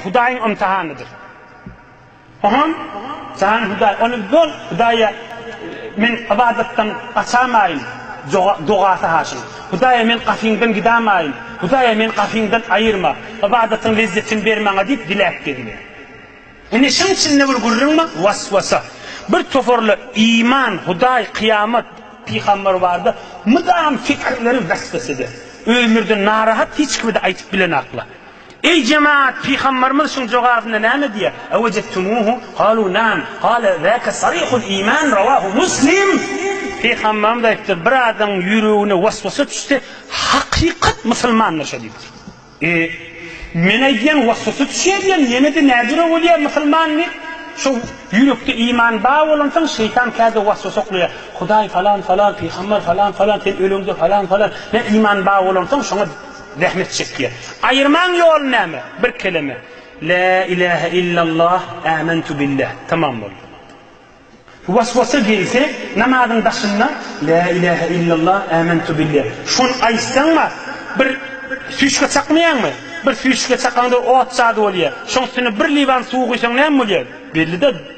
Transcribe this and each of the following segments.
Hudaýyň ymtahanydyr. Oňam jan Hudaý, ony böl, Hudaýa men ybadatdan gaçamaýyn dogasy haşyň. Hudaýa men gapyňdan gidamaýyn, Hudaýa men gapyňdan aýyrma, ybadatyň lezzetini ber maňa diýip diläp gezýär. Ine şuň içinde bir gürrüň bar, waswasa. Bir toparlar iman, Hudaý, kyýamat, pygamber bardy, mydam pikirleri waswasada. Özlerinden narahat hiç kime-de aýtyp bilenaklar. Eý, jemagat, pygambarymyz şuň jogabynda näme diýýär? Ewejettumuhu galu nam, gala zaka sarihul iman, rawahu Muslim. Pygambarymyz aýdypdyr, Bir adamyň ýüregine waswasa düşse, hakykat musulmandyr şo diýipdir. E, men aýdýan waswasa düşýär diýen, ýene-de nädüre bolýar musulman diýip? Şo ýürekde iman bar bolansoň, şeýtan käde waswasa oklaýar. Hudaý falan-falan, pygambar falan-falan, sen öleňde falan-falan, nä iman bar bolansoň, şoňa. Zähmet çekýär. Aýyrmaň ýoly näme? Bir keleme. Lä ilähe illallah, ämentu billäh. Tamam boldy. Waswasa gelse, namazyň daşynda Lä ilähe illallah, ämentu billäh. Şony aýtsaňma, bir süýşge çakmaýaňmy? Bir süýşge çakaňda ot jady bolýar. Şoň üstüne bir liwan suwy guýsaň näme bolýar? Belli-de.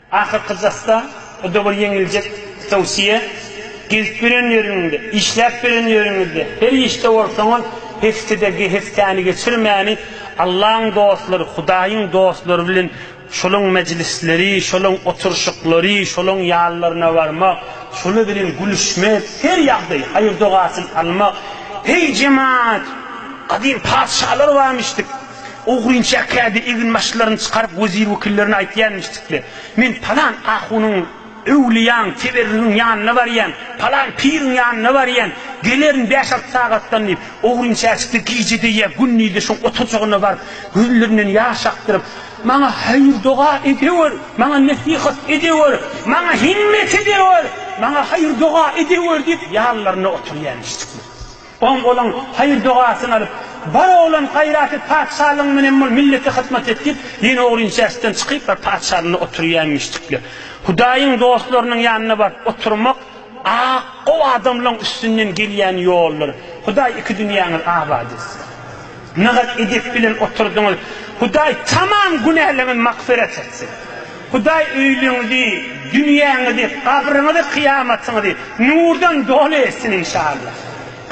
Ahyrkyjasda bu dowur ýeňiljek towsiýe, Gezip ýören ýeriňde, işläp ýören ýeriňizde, her işde bolsaňyz, hesdide hesdäni geçirmäni, Allaň dostlary, Hudaýyň dostlary bilen şolaň mejlisleri, şolaň oturyşyklary, şolaň ýanlaryna barmak, şolar bilen gülüşmek, her ýagdaýy, haýyr-dogasyny almak. Heý, jemaat, gadym patyşalar barmyş diýip. Ogryn çäklädi, eginbaşlaryny çykaryp wezir-wekillerine aýtýanmişdikle, Men palan ahunyň, öwlüýäň, teberrigiň ýanyna barýan, palan piriň ýanyna barýan, gelerin bäş-alty sagatdan diýip, ogryn çäçikli gije-de ýa gündiz-de şoň oturjygyna baryp, gözlerinden ýaş akdyryp, Maňa haýyr-doga edewer, maňa nesihat edewer, maňa himmet edewer, maňa haýyr-doga edewer diýip, ýallaryna oturýanmişdikle. Oň boluň, haýyr-dogasyny alyp, Bar oglan gaýraty patyşalygyň menen bol, millete hyzmat et diýip, ýene o inçäsden çykyp bar patyşalynda oturýaýmyşdykle. Hudaýyň dostlarynyň ýanyna baryp oturmak ak gowy adamlaň üstünden gelýän ýoldur. Hudaý iki dünýäňiz abat etsin. Nygaz edep bilen oturdyňyz. Hudaý tamam günäleriňiz magfyrat etsin. Hudaý öýleriňizi, dünýäňizi, gabryňyzy, kyýamatyňyzy nurdan doly etsin inşallah.